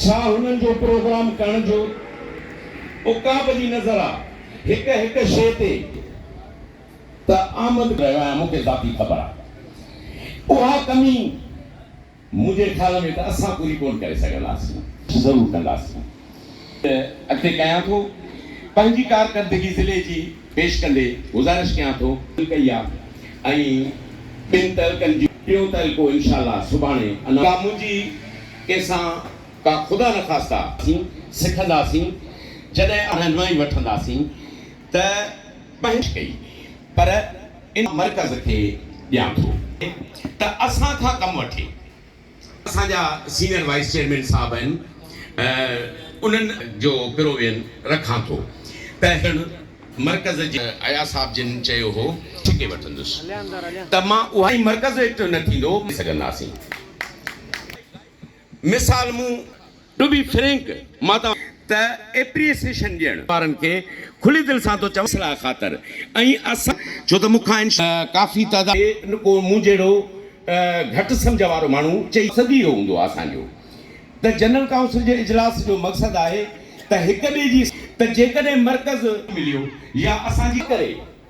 ڇا هنن جو پروگرام ڪرڻ جو عقاب جي نظر آ هڪ هڪ شيء تي ته آمد رهيو آهيان مون کي ذاتي خبر آ اها ڪمي منهنجي خيال ۾ ته اسان پوري ڪون ڪري سگهنداسين ضرور ڪنداسين اڳتي ڪيان ٿو پنهنجي ڪارڪردگي ضلعي جي پيش ڪندي گذارش ڪيان ٿو. ڪئي آ ۽ ٻن تعلقن جي. ٽيون تعلقو انشاء الله سڀاڻي انائونس. ڪا منهنجي ڪنهن سان ڪا خدا نخواسته. اسين سکنداسين جڏهن اسان رهنمائي وٺنداسين ته پنهنجي. ڪئي پر ان. مرڪز کي ڏيان ٿو ته اسان کان ڪم وٺي. اسان جا سينئر وائيس چيئرمين صاحب آهن انهن جو پروين رکان ٿو ته هن مرڪز جي اياز صاحب جن چيو هو ٺڪي وٺندس ته مان اها ۽ مرڪز ايڪٽو نه ٿيندو سگهنداسين مثال مون ٽو بي فرينڪ، مان توهان. ته ايپريسيشن ڏيڻ. وارن کي کلي دل سان ٿو چوان. اصلاح خاطر ۽ اسان. ڇو ته مون کان ان. ڪافي تعداد. کي ڪو مون جهڙو گهٽ سمجهه وارو ماڻهو چئي. مقصد ئي اهو هوندو آهي اسان جو ته جنرل ڪائونسل جي اجلاس جو مقصد آهي ته هڪ ٻئي جي. ته جيڪڏهن مرڪز. مليو يا اسان جي. ڪري